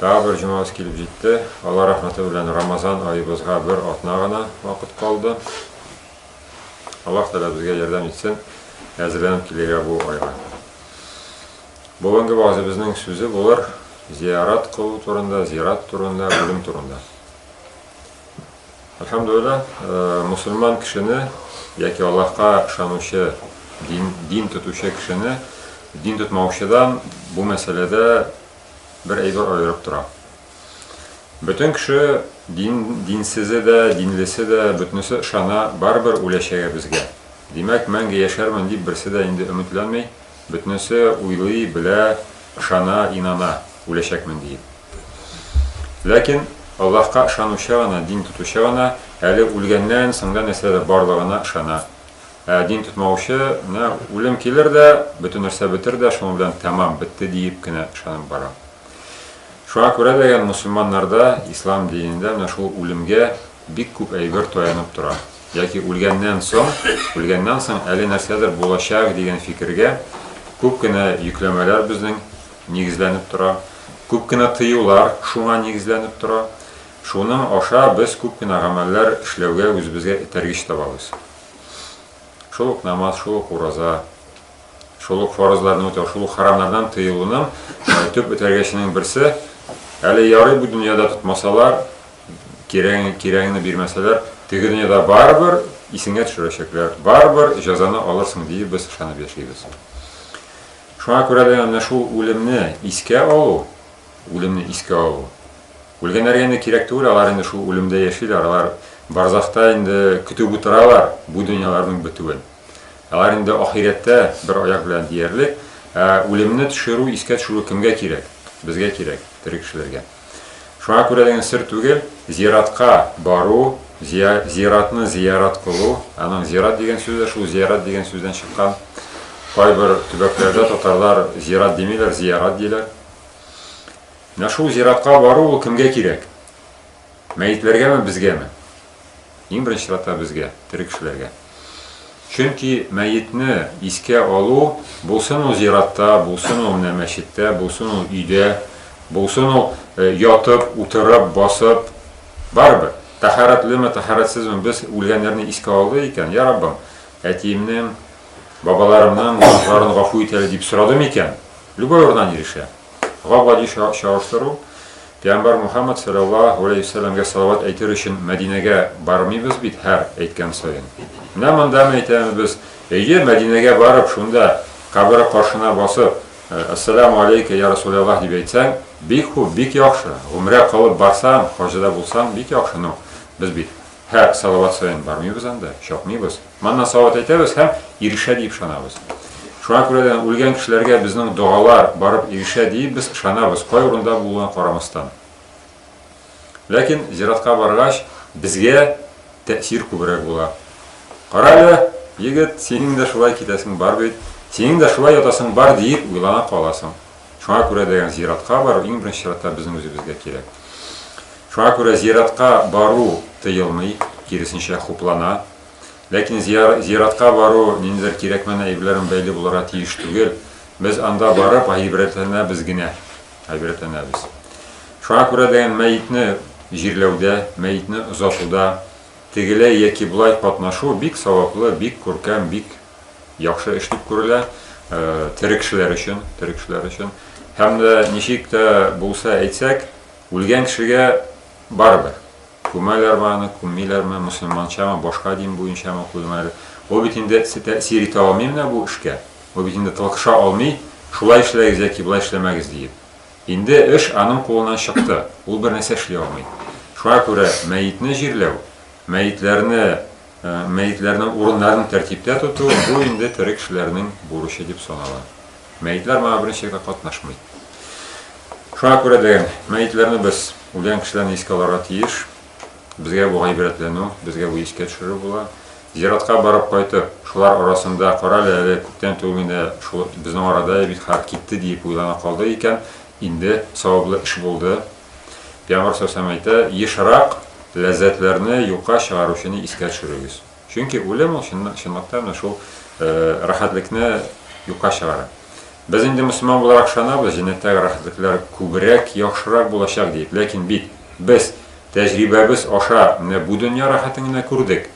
Тагы бер җомабыз килеп җитте. Алла рәхмәте белән Рамазан аебызга бер атна гына вакыт калды. Аллаһ Тәгалә безгә ярдәм итсен, әзерләнеп килергә бу айга. Бүгенге вазыбызның сүзе булыр зиярат кылу турында, зират турында, үлем турында. Әлхәмдулилла, э, мусульман кешене яки Аллаһка ышанучы, дин, дин тотучы кешене дин тотмаучыдан бу мәсьәләдә бер әйбер аерып тора. Бөтен кеше дин, динсезе дә, динлесе дә, бөтенесе ышана, барыбер үләчәгә безгә. Димәк, мәңге яшәрмен дип берсе дә инде өметләнми, бөтенесе уйлый, белә, ышана, инана, үләчәкмен диеп. Ләкин Аллаһка ышанучы гына, дин тотучы гына әле үлгәннән соң да нәрсәдә барлыгына ышана. Ә дин тотмаучы, менә үлем килер дә, бөтен нәрсә бетер дә, шуның белән тәмам, бетте диеп кенә ышанып бара. Шуңа күрә дә ген мөселманнарда, ислам динендә менә шул үлемгә бик күп әйбер таянып тора. Яки үлгәннән соң, үлгәннән соң әле нәрсәдер булачак дигән фикергә күп кенә йөкләмәләр безнең нигезләнеп тора, күп кенә тыюлар шуңа нигезләнеп тора. Шуның аша без күп кенә гамәлләр эшләүгә үзебезгә этәргеч табабыз. Шул ук намаз, шул ук ураза, шул ук фарызларны үтәү, шул ук харамнардан тыелуның төп бетергеченең берсе, әле ярый бу дөньяда тотмасалар, кирәген, кирәгеңне бирмәсәләр, теге дөньяда барыбер исеңә төшерәчәкләр, барыбер җәзаны алырсың диеп без ышанып яшибез. Шуңа күрә дә менә шул үлемне искә алу, Үлемне искә алу. Үлгәннәргә инде кирәк түгел, алар инде шул үлемдә яшиләр, алар барзахта инде көтеп утыралар бу дөньяларның бетүен. Алар инде ахирәттә бер аяк белән диярлек. Ә үлемне төшерү, искә төшерү кемгә кирәк? Безгә кирәк, тере кешеләргә. Шуңа күрә дигән сер түгел, зиратка бару, зиратны зиярат кылу, аның зират дигән сүзе дә шул зиярат дигән сүздән чыккан. Кайбер төбәкләрдә татарлар зират димиләр, зиярат диләр. Менә шул зиратка бару ул кемгә кирәк? Мәетләргәме, безгәме? Иң беренче чиратта безгә, тере кешеләргә. Чөнки мәетне искә алу, булсын ул зиратта, булсын ул менә мәчеттә, булсын ул өйдә, булсын ул э, ятып, утырып, басып, барыбер. Тәһарәтлеме, тәһарәтсезме без үлгәннәрне искә алды икән, я Раббым, әтиемнең бабаларымның гөнаһларын гафу ит әле дип сорады микән? Любой урыннан ирешә. Габади чагыштыру, Пәйгамбәр Мухаммад саллаллаһу алейһи вәсәлләмгә салават әйтер өчен Мәдинәгә бармыйбыз бит һәр әйткән саен. Менә монда әйтәбез без, әйе, Мәдинәгә барып, шунда кабере каршына басып, э, Ассаламу алейка, я Расуляллаһ дип әйтсәң, бик хуп, бик яхшы. Гомрә кылып барсаң, хаҗыда булсаң, бик яхшы. Ну, без бит һәр салават саен бармыйбыз анда, чапмыйбыз. Моннан сават әйтәбез һәм ирешә диеп ышанабыз. Шуңа күрә дә үлгән кешеләргә безнең догалар барып ирешә диеп без ышанабыз, кай урында булуына карамастан. Ләкин зиратка баргач, безгә тәэсир күбрәк була. Кара әле, егет, синең дә шулай китәсең бар бит, синең дә шулай ятасың бар диеп уйлана каласың. Шуңа күрә дә зиратка бару иң беренче чиратта безнең үзебезгә кирәк. Шуңа күрә зиратка бару тыелмый, киресенчә хуплана. Ләкин зиратка бару, ниндидер кирәкмәне әйберләрен бәйли булырга тиеш түгел. Без анда барып гайбрәтләнәбез генә. Гайбрәтләнәбез. Шуңа күрә дигән мәетне җирләүдә, мәетне озатуда тегеләй яки болай катнашу бик саваплы, бик күркәм, бик яхшы эш дип күрелә тере кешеләр өчен, тере кешеләр өчен. Һәм дә ничек тә булса әйтсәк, үлгән кешегә барыбер Күмәләрме аны, күммиләрме, мөселманчамы, башка дин буенчамы, куймалар. Ул бит инде тәэсир итә алмый менә бу эшкә. Ул бит инде тылгыша алмый, шулай эшләгез яки болай эшләмәгез диеп. Инде эш аның кулыннан чыкты, ул бернәрсә эшли алмый. Шуңа күрә мәетне җирләү, мәетләрне Мәетләрнең урыннарын тәртиптә тоту, бу инде тере кешеләрнең бурычы дип санала. Мәетләр моңа берничә гә катнашмый. Шуңа күрә дә мәетләрне без үлгән кешеләрне искә алырга тиеш. Безгә бу гыйбрәтләнү, безгә бу искә төшерү була. Зиратка барып кайтып, шулар арасында кара әле, әле күптән түгел генә шул безнең арада бит хәл китте диеп уйлана калды икән, инде саваплы эш булды. Пәйгамбәр салләһу алейһи вә сәлләм әйтә, Ешрак ләззәтләрне юкка чыгаручыны искә төшерегез. Чөнки үлем ул чынлыкта менә шул рәхәтлекне юкка чыгара. Без инде мөселман буларак ышанабыз, җәннәттәге рәхәтлекләр күбрәк, яхшырак булачак диеп. Ләкин бит без тәҗрибәбез аша менә бу дөнья рәхәтен генә күрдек.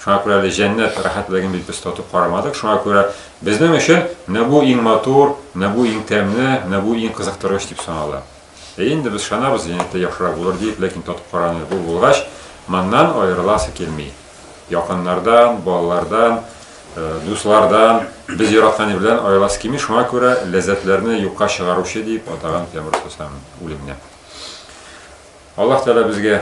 Шуңа күрә әле җәннәт рәхәтлеген бит без татып карамадык. Шуңа күрә безнең өчен менә бу иң матур, менә бу иң тәмле, менә бу иң кызыктыргыч дип санала. Әйе инде, без ышанабыз, җәннәттә яхшырак булыр диеп, ләкин татып караганда бу булгач, моннан аерыласы килми. Якыннардан, балалардан, дуслардан, без яраткан ир белән аерыласы килми, шуңа күрә ләззәтләрне юкка чыгаручы диеп атаган тәмур остасының үлеменә. Аллаһ Тәгалә безгә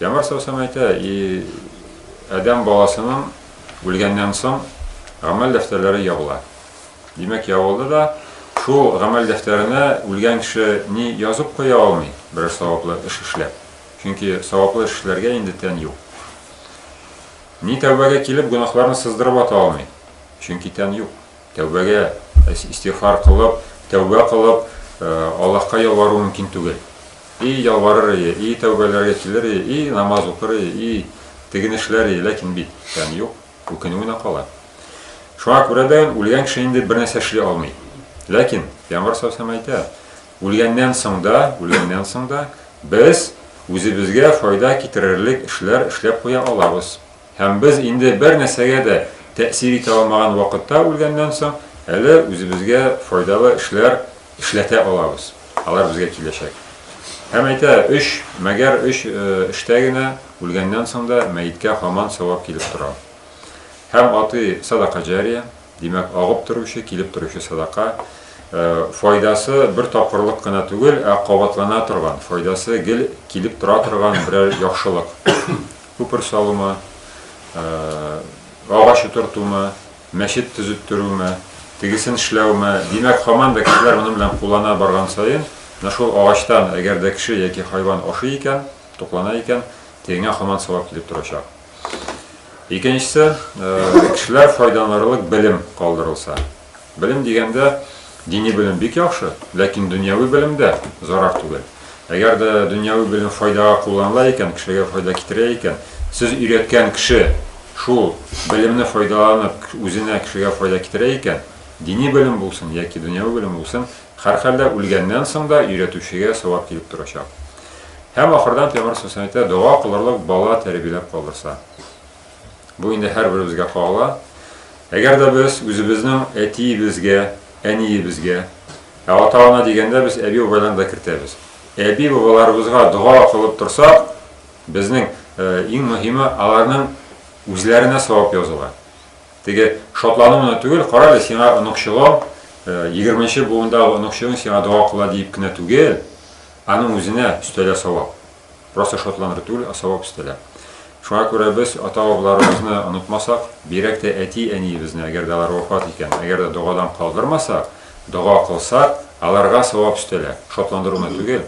Яңа Сосен әйтә, и адәм баласының үлгәннән соң гамәл дәфтәрләре ябыла. Димәк, ябылды да, шул гамәл дәфтәренә үлгән кеше ни язып куя алмый, берәр саваплы эш эшләп. Чөнки саваплы эш эшләргә инде тән юк. Ни тәүбәгә килеп гөнаһларны сыздырып ата алмый, чөнки тән юк. Тәүбәгә, истигъфар кылып, тәүбә кылып, Аллаһка ялвару мөмкин түгел. И ялварыр ие, и тәүбәләргә килер ие, и намаз укыр ие, и теген эшләр ие, ләкин бит, тән юк, үкенү генә кала. Шуңа күрә дә үлгән кеше инде бер нәрсә эшли алмый. Ләкин Пәйгамбәр саллаллаху әйтә, үлгәннән соң да, үлгәннән соң да без үзебезгә файда китерерлек эшләр эшләп куя алабыз. Һәм без инде бер нәрсәгә дә тәэсир итә алмаган вакытта үлгәннән соң әле үзебезгә файдалы эшләр эшләтә алабыз, алар безгә киләчәк. Һәм әйтә, өч, мәгәр өч, эштә генә, үлгәннән соң да мәеткә һаман савап килеп тора. Һәм атый, садака җария, димәк, агып торучы, килеп торучы садака. Файдасы бер тапкырлык кына түгел, ә кабатлана торган, файдасы гел килеп тора торган берәр яхшылык. Күпер салумы, агач утыртумы, мәчет төзеттерүме, тегесен эшләүме, димәк, һаман да кешеләр моның белән куллана барган саен, менә шул агачтан, әгәр дә кеше яки хайван ашый икән, туклана икән, тегеңә һаман савап килеп торачак. Икенчесе, кешеләр файдаланырлык белем калдырылса. Белем дигәндә, дини белем бик яхшы, ләкин дөньяви белем дә зарар түгел. Әгәр дә дөньяви белем файдага кулланыла икән, кешегә файда китерә икән, сез өйрәткән кеше шул белемне файдаланып, үзенә, кешегә файда китерә икән, дини белем булсын яки дөньяви белем булсын, һәрхәлдә үлгәннән соң да өйрәтүчегә савап килеп торачак. Һәм ахырдан Пәйгамбәр саллаллаһу галәйһи ва сәлләм әйтә, дога кылырлык бала тәрбияләп калдырса. Бу инде һәрберебезгә кагыла. Әгәр дә без үзебезнең әтиебезгә, әниебезгә, ә ата-ана дигәндә без әби-бабайларны да кертәбез. Әби-бабаларыбызга дога кылып торсак, безнең э, иң мөһиме аларның үзләренә савап языла. Теге шатлану гына түгел, кара әле сиңа оныкчыгың, э, егерменче буындагы оныкчыгың сиңа дога кыла диеп кенә түгел, аның үзенә өстәлә савап. Просто шатландыру түгел, ә савап өстәлә. Шуңа күрә без ата-бабаларыбызны онытмасак, бигрәк тә әти-әниебезне, әгәр дә алар вафат икән, әгәр дә догадан калдырмасак, дога кылсак, аларга савап өстәлә. Шатландыру гына түгел.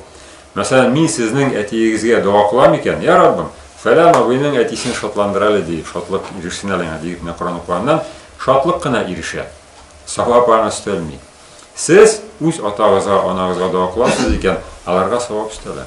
Мәсәлән, мин сезнең әтиегезгә дога кылам икән, я Раббым, фәлән абыйның әтисен шатландыр әле, диеп, шатлык ирешсен әле аңа, диеп менә Коран укыганнан шатлык кына ирешә. Савап аңа өстәлми. Сез үз атагызга, анагызга дога кыласыз икән, аларга савап өстәлә.